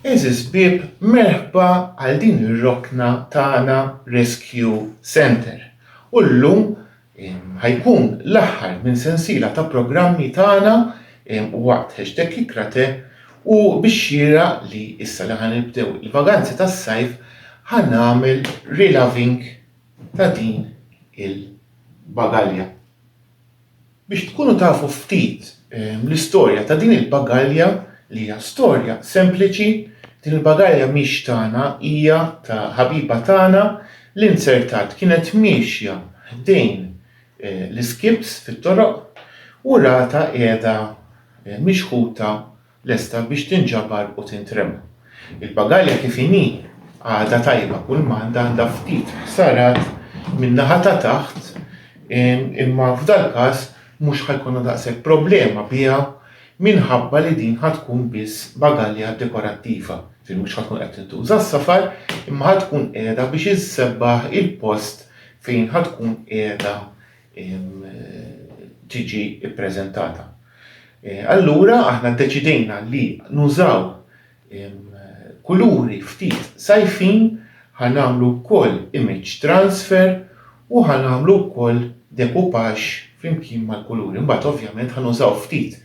Għeżież ħbieb, merħba għal din ir-rokna tagħna Rescue Centre. U llum ħajkun l-aħħar minn sensiela ta' programmi tagħna waqt hashtag Kikrate u bixxiera li issa li ħanibdew il-vaganzi tas-sajf ħanagħmel reloving ta' din il-bagalja. Biex tkunu tafu ftit l-istorja ta' din il-bagalja li hija storja sempliċi, din il-bagalja mhix tagħna hija ta' ħabiba tagħna li nzertat kienet miexja ħdejn l-iskips fit-toroq u ratha qiegħda mixħuta lesta biex tinġabar u tintrema. Il-pagalja kif inhi għadha tajba kulmand għandha ftit ħsarat min-naħa ta' taħt imma f'dal-każ mhux ħa jkollna daqshekk problema biha minħabba li din ħa tkun biss bagalja dekorattiva, ġifieri mhux ħa tkun qed tintuża s-safar imma ħa tkun qiegħda biex issebbaħ il-post fejn ħa tkun qiegħda tiġi ppreżentata. Allura aħna ddeċidejna li nużaw kuluri ftit sajfin ħanamlu wkoll image transfer u ħanamlu wkoll dekupagġ flimkien mal-kuluri. Mbagħad ovvjament ħanużaw ftit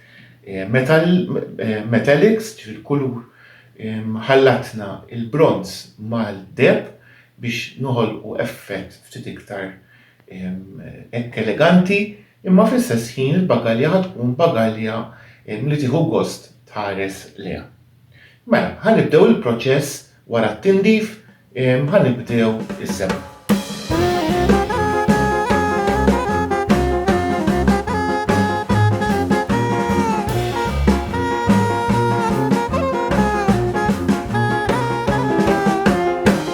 metallics, ġifieri kulur ħallatna l-bronz mal-deheb biex noħolqu effett ftit iktar hekk eleganti, imma fl-istess ħin il-bagalja ħa tkun bagalja li tieħu gost tħares lejha. Mela, ħa nibdew il-proċess wara t-tindif, ħa nibdew is-sebħ.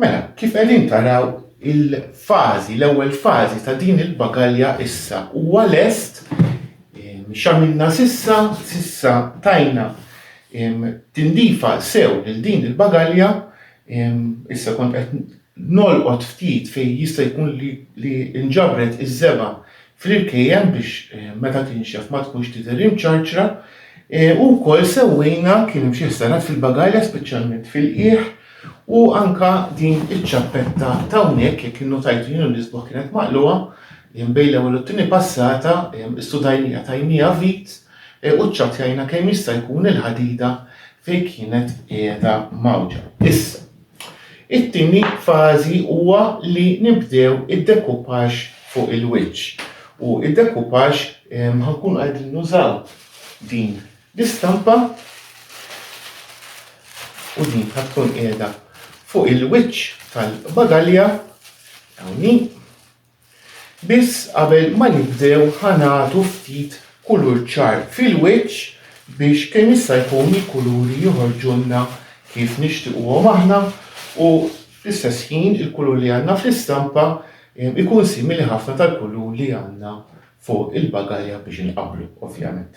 Mela, kif qegħdin taraw, il-fażi, l-ewwel fażi ta' din il-bagalja issa huwa lest x'għamilna sissa, sissa tajna tindifa sew lil din il-bagalja, issa kont qed nolqot ftit fejn jista' jkun li nġabret iż-żebgħa fl-irkejjen biex meta tinxef ma tkunx tidher imċarċra, u wkoll sewwejna kien hemm xi ħsarat fil-bagalja speċjalment fil-qiegħ u anka din iċ-ċappetta t'hawnhekk jekk innotajtu jien u l-isbuħ kienet maqlugħa bejn l-ewwel u t-tieni passata studajnija tajnija vit u ċċappjajna kemm jista' jkun il-ħadida fejn kienet qiegħda mgħawġa. Issa, It-tieni fażi huwa li nibdew id-decoupage fuq il-wiċċ. U id-decoupage ehm, ħankun qegħdin nużaw din l-istampa u din ħatkun qiegħda fuq il-wiċċ tal-bagalja hawnhekk Biss qabel ma nibdew ħa nagħtu ftit kulur ċar fil-wiċċ biex kemm jista' jkun il-kuluri joħorġulna kif nixtiquhom aħna u fl-istess ħin il-kulur li għandna fl-istampa ikun simili ħafna tal-kulur li għandna fuq il-bagalja biex inqabblu ovvjament.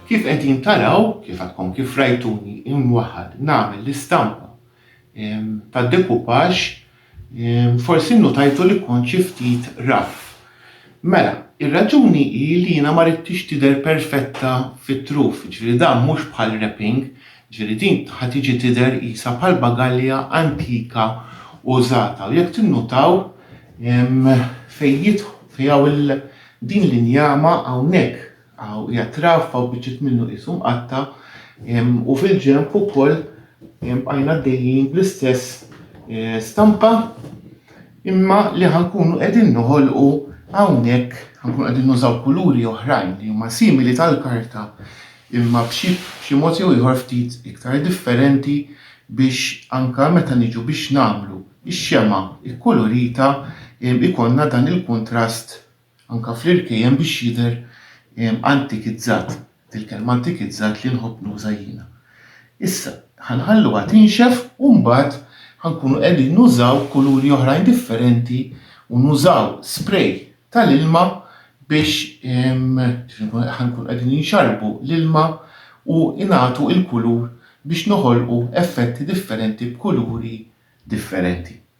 Kif qegħdin taraw, kif għadkom kif rajtuni imwaħħad nagħmel l-istampa tad-decoupage, forsi nnutajtu li kont xi ftit rough. Mela, ir-raġuni hi li jiena ma ridtix tidher perfetta fit-truf, jiġifieri dan mhux bħal wrapping, jiġifieri din ħa tiġi tidher qisha bħal bagalja antika użata u jekk tinnutaw fejn jidħol fejn hawn din l-injama hawnhekk Hawn qiegħed traffa u biċċiet minnu qisu mqatta' u fil-ġenb ukoll bqajna għaddejjin bl-istess stampa imma li ħankunu qegħdin noħolqu hawnhekk ħankunu qegħdin nużaw kuluri oħrajn li huma simili tal-karta imma b'xi mod jew ieħor ftit iktar differenti biex anke meta niġu biex nagħmlu x-xemgħa kkulurita ikollna dan il-kuntrast Anke fl-irkej hemm biex jidher antikizzat, il-kelma antikizzat li nħobb nuża jiena. Issa, ħa nħalluha tinxef u mbagħad ħa nkunu qegħdin nużaw kuluri oħrajn differenti u nużaw spray tal-ilma biex ħa nkunu qegħdin inxarrbu l-ilma u nagħtu l-kulur biex noħolqu effetti differenti b'kuluri differenti.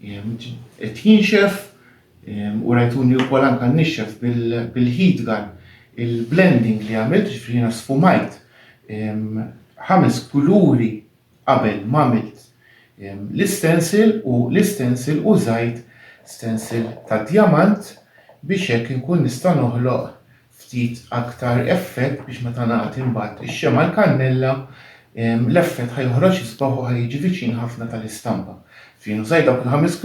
Qed jinxef u rajtuni wkoll anke nixxef bil-heat gun il-blending li għamilt, ġifieri jiena sfumajt ħames kuluri qabel ma għamilt l-istencil u l-istencil użajt stencil ta' djamant biex hekk inkun nista' noħloq ftit aktar effett biex meta nagħti mbagħad ix-xemgħa l-kannella l-effett ħa joħroġ isbaħ u ħa jiġi viċin ħafna tal-istampa. Fien użajt dawk il-ħames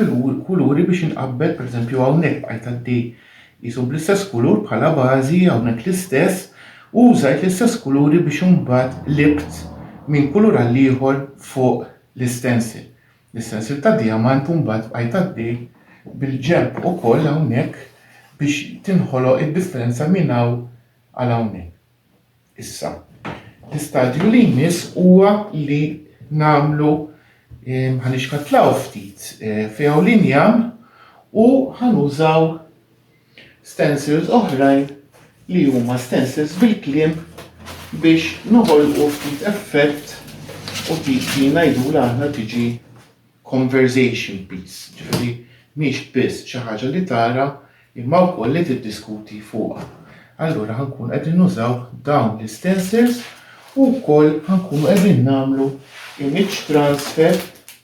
kuluri biex inqabbel, pereżempju hawnhekk bqajt għaddej qisu bl-istess kulur bħala bażi, hawnhekk l-istess, u użajt l-istess kuluri biex imbagħad libt minn kulur għall-ieħor fuq l-istensil. Is-sensiel ta' Diamant imbagħad bqajt għaddej bil-ġenb ukoll hawnhekk biex tinħoloq id-differenza minn hawn għal hawnhekk. Issa, l-istadju li jmiss huwa li nagħmlu ħa nixkatlaw ftit, f'hawn l-injam u ħa nużaw stencils oħrajn li huma stencils bil-kliem biex noħolqu ftit effett u dik li ngħidulha aħna tiġi conversation piece, ġifieri mhix biss xi ħaġa li tara imma wkoll li tiddiskuti fuqha. Allura ħankun qegħdin nużaw dawn l-istencils u wkoll ħankunu qegħdin nagħmlu image transfer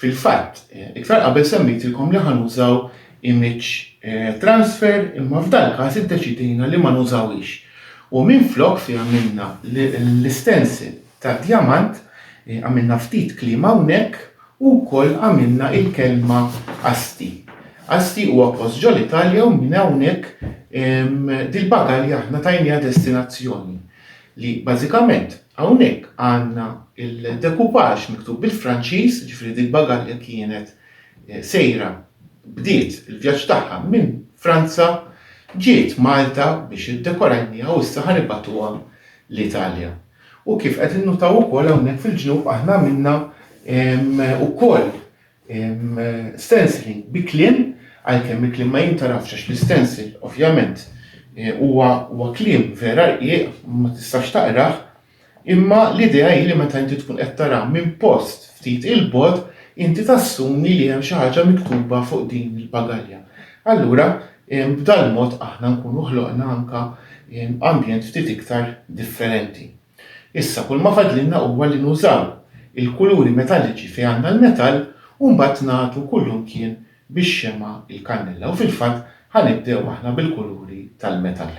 Fil-fatt, iktar qabel semmejtilkom li ħa nużaw image transfer imma f'dal-każ iddeċidejna li ma nużawhiex u minflok fi għamilna l-stencil tad-djamant, għamilna ftit kliem hawnhekk u wkoll għamilna il-kelma Asti. Asti huwa post ġol-Italja u minn hawnhekk dil-bagalja aħna tajniha destinazzjoni li bażikament Hawnhekk għandna l-decoupage miktub bil-Franċiż, jiġifieri dik bagalja kienet sejra bdiet il-vjaġġ tagħha minn Franza, ġiet Malta biex iddekorajniha u issa ħa nibgħatuha l-Italja. U kif qed innutaw ukoll hawnhekk fil-ġnub aħna għamilna wkoll Stencilling bi kliem, għalkemm il-kliem ma jintgħarafx għax l-istencil ovvjament huwa huwa kliem vera rqiq ma tistax taqrah, imma l-idea hi li meta inti tkun qed tara minn post ftit 'il bogħod inti tassumi li hemm xi ħaġa miktuba fuq din il-pagalja. Allura b'dal-mod aħna nkunu ħloqna anka ambjent ftit iktar differenti. Issa kull ma fadlilna huwa li nużaw il-kuluri metalliċi fejn għandna l-metall u mbagħad nagħtu kullimkien bix-xemgħa l-kannella u fil-fatt ħa nibdew aħna bil-kuluri tal-metall.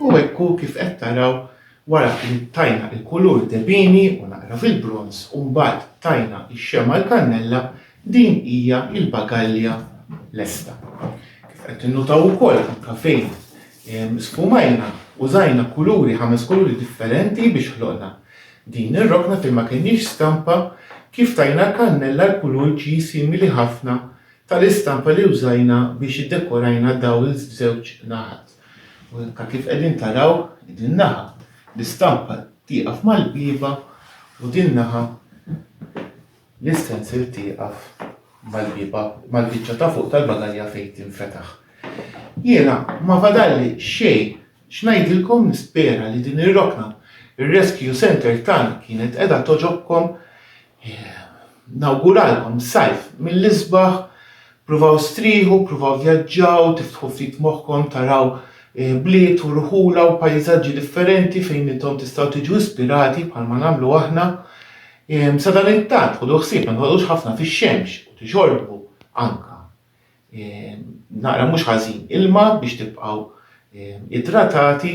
U hekk hu kif qed taraw wara li tajna l-kulur debini u naqra fil-bronż u mbagħad tajna x-xemgħa l-kannella din hija l-bagalja lesta. Kif qed tinnutaw ukoll anke fejn ehm, sfumajna użajna kuluri ħames kuluri differenti biex ħloqna Din ir-rokna fejn ma kenniex stampa kif tajna kannella l-kulur ġie simili ħafna tal-istampa li użajna biex iddekorajna dowels f'żewġ naħat. U hekk kif qegħdin taraw din naħa l-istampa tieqaf mal-bieba u din naħa L-istensil tieqaf mal-bieba, mal-biċċa ta' fuq tal-bagalja fejn tinfetaħ. Jiena ma fadalli xejn x'ngħidilkom nispera li din ir-rokna, ir-Rescue Centre tagħna kienet qiegħda togħġobkom. Nawguralkom sajf mill-isbaħ Pruvaw strieħu, pruvaw vjaġġaw, tiftħu ftit moħħkom, taraw bliet u rħula u pajżaġġi differenti fejn intom tistgħu tiġu ispirati bħalma nagħmlu aħna. Ehm, sadanittant ħudu ħsieb ma toqgħodux ħafna fix-xemx u tixorbu anka ehm, naqra mhux ħażin ilma biex tibqgħu ehm, idratati.